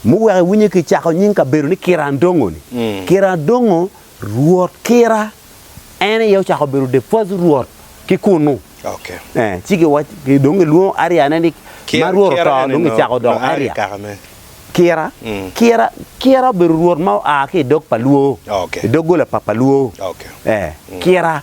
Muweko iwinyo ki cako nying kabedo ni Kira Ndongo ni. Kira Ndongo rwot Kira en aye ocako bedo the first rwot ki kunu. Eh, ci giwaco dong gilwongo area ne ni ma rwot oto dong gicako doko area. Kira, Kira, Kira obedo rwot ma oa ki i dog pa Luo, i doggola pa pa Luo. Eh, Kira.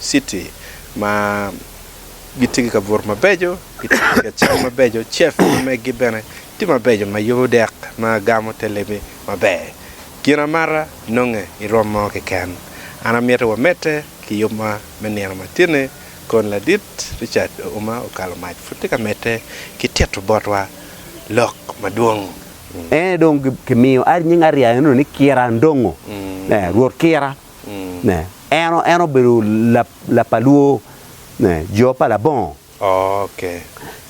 citi ma gitye ki kabuto mabeco, gitye ki kacel mabeco, cef ma megi bene tye mabeco ma yubo dek ma gamo te lemmi maber. Gin amata nonge i rwom mo keken. An amiti wamedde ki yubwa me nino matini kun ladit Richard Ouma Okalo Mac pud tye ka medde ki tito botwa lok madwong. Ene dong kimiyo nying ariya eno ni Kira Ndongo, Rwot Kira. ne en en obedo lap lap pa lwor ne jo pa labongo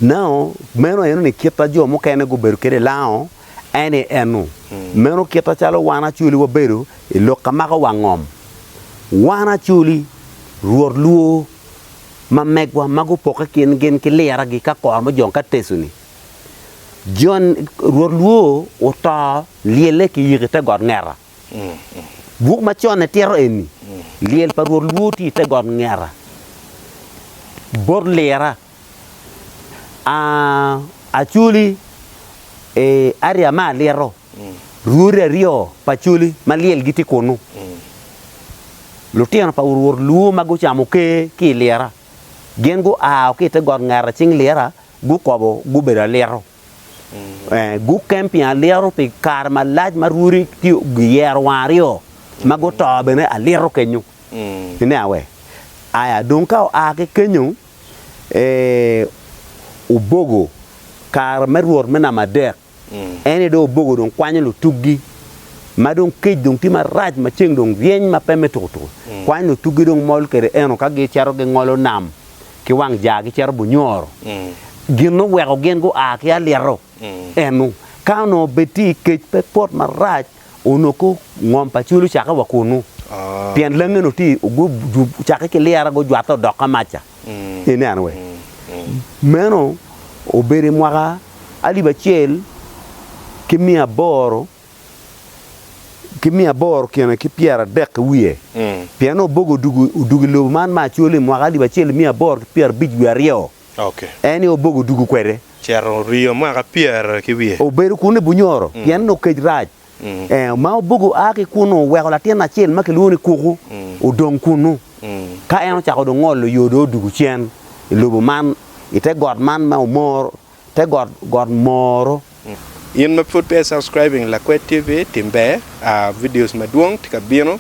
nao meno aye nongo kita jo mukene gubedo kwede i lango en aye en nu meno kita calo wan acoli wabedo i lok ka mako wang ngom wan acoli rwot lwor ma megwa ma gupoke kin gin ki lira gi ka kor mujong ka tecu ni jon rwot lwor oto lyelle ki yiki te got ngeta. Buk ma conne tito eni, Lyel pa Rwot lwor tye i te got ngeta bot lira. A Acoli e aria ma alito, rwodi aryo pa acoli ma lyel gitye kunnu. Lutino pa Rwot lwor ma gucamo ker ki i lira, gin guao ki i te got ngeta cing lira, gukobo gubedo alito. Gukem pi alito pi kare malac ma rwodi tye giyero wang aryo ma guto bene alito kenyo. Ine awe? Aya, dong ka oa ki kenyo, obogo kare me rwot me namba adek. En aye dong obogo dong kwanyo lutuggi ma dong kec dong tye marac ma ceng dong ryeny ma pe me tukutuku. Kwanyo lutuggi dong mol kwede eno ka gicito gingolo nam ki wang jaa gicito bunyoro, gin ma oweko gin gua ki alyero enu, ka onongo bed tye i kec pe pot marac onongo ko ngom pa cwiny lucakke wa kunnu, pien langi onongo tye ocakke ki lyere gujwatte odok ka mac ca, ineno wee? Meno obedo i mwaka alip acel ki miya aboro. ki miya aboro kine ki pyeradek ki wiye, pien Oboke odugo odugo i lobo man me acol i mwaka alip acel miya aboro ki pyerabic wiye aryo, en aye Oboke odugo kwede. Cito oryo mwaka pyera ki wiye. Obedo kunu i bunyoro, pien nongo kec rac. Ma Oboke oa ki kunnu, oweko latin acel ma kilwongo ni Kuku odong kunnu, ka en ocako dong ngolo yo dong odugo cen i lobo man, i te got man ma omor Te got got moro. In ma pud peya i subscribing lakwed TV tim ber aa videos madwong tye ka bino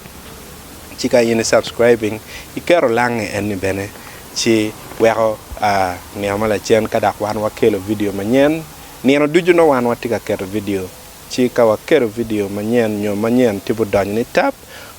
ci ka in i subscribing i keto lange en ni bene ci weko aa nino ma lacen ka dok wan wa kelo video manyen nino ducu nongo wan wa tye ka keto video ci ka wa keto video manyen nyo manyen tye budonyo ni tap